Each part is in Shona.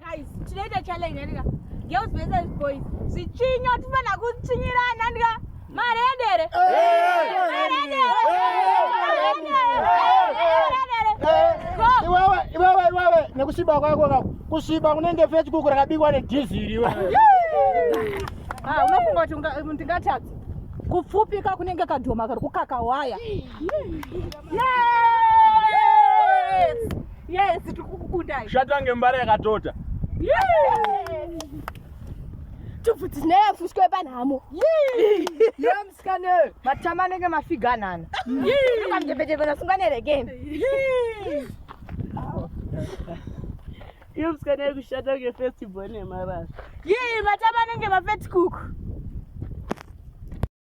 Guys, tinoita challenge andika. Girls versus boys. Zvichinyo tifana kuchinyirana andika. Mari yedere. Mari yedere. Iwewe, iwewe, iwewe, nekushiba kwako kako. Kushiba kunenge fetch kuku rakabikwa nedhiziri iwewe. Ah, unofunga kuti ndingatadza? Kupfupika kunenge kadhoma kari kukaka waya. zvatange mbara yakatota tubvudzi zinayafushwa panhamo yomusikane matama anenge mafiga anana kamjepejepenasunganerekeni iyo musikana iri kushanda ngefestival nemarasa yii matama anenge mafetikuku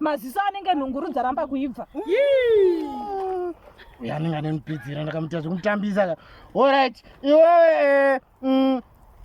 maziso anenge nhunguru dzaramba kuibva yanenge ane mupidzira ndakamuita zvekumutambisa ka orit iwewe eh, mm,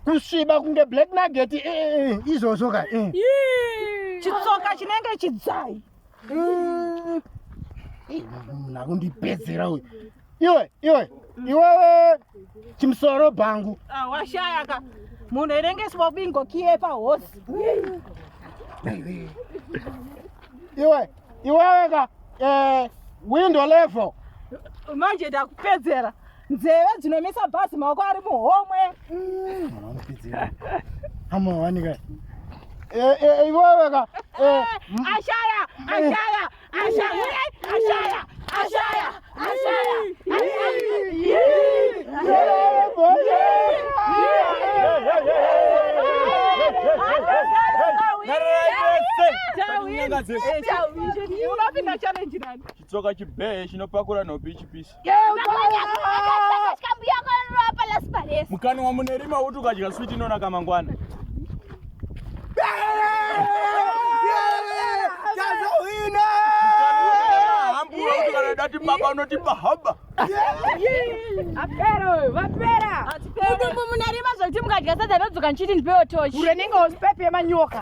kusviba kunge black nugget eh, eh, izvozvo ka chitsoka chinenge chidzai munhu akundipedzera uyu iwe iwe iwewe chimusoro bhangu ah, washayaka munhu erengeswa bingo kiye pahosi iwe iwewe ka eh, window level manje ndakupedzera nzeve dzinomisa bhazi maoko ari muhomwe amawanika eh, eh, iwewe ka ashaya ashaya chitsoka chibhee chinopakura nhopi chipisi mukana wamunerima uti ukadya switi inonaka mangwana dati baba unotipa haba apera uyu vapera mudumbu munarima zvokuti mukadya sadza nodzoka ndichiti ndipewo tochi urenenge usipepe yemanyoka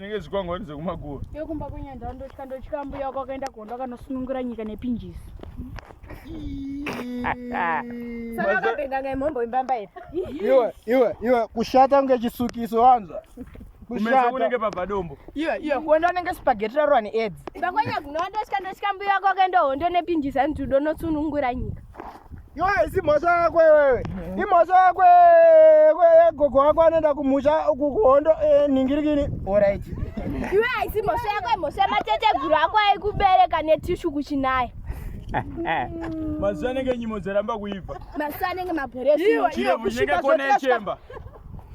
zvinenge zvikwangwani zvekumakuva yokumba kwenyanja ndotya ndotya mbuya wako akaenda kuhondo akanosunungura nyika nepinjisi iwe iwe iwe kushata kunge chisukiso wanza kunenge pabva dombo iwe iwe kuenda unenge spageti rarwa needzi bakwanya kunoondotya ndotya mbuya wako akaenda hondo nepinjisi anitudonosunungura nyika Iwe haisi mhosva yako iwewe. Imhosva yako iwewe gogo wako anoenda kumusha kuhondo eh, nhingirikini. Alright. Iwe haisi mhosva yako imhosva yamateteguru ako aikubereka netishu kuchinaya. Mazuva anenge nyimo dzaramba kuibva. Mazuva anenge mabhoresi. Chirevu chenge kona yechemba.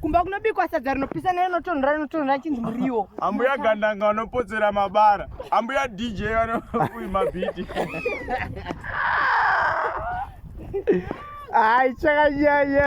kumba kunobikwa sadza rinopisa nerinotonhora rinotonhora chinzi muriwo ambuya gandanga vanopotsera mabara ambuya dj vanoui mabhiti ai chakanyanya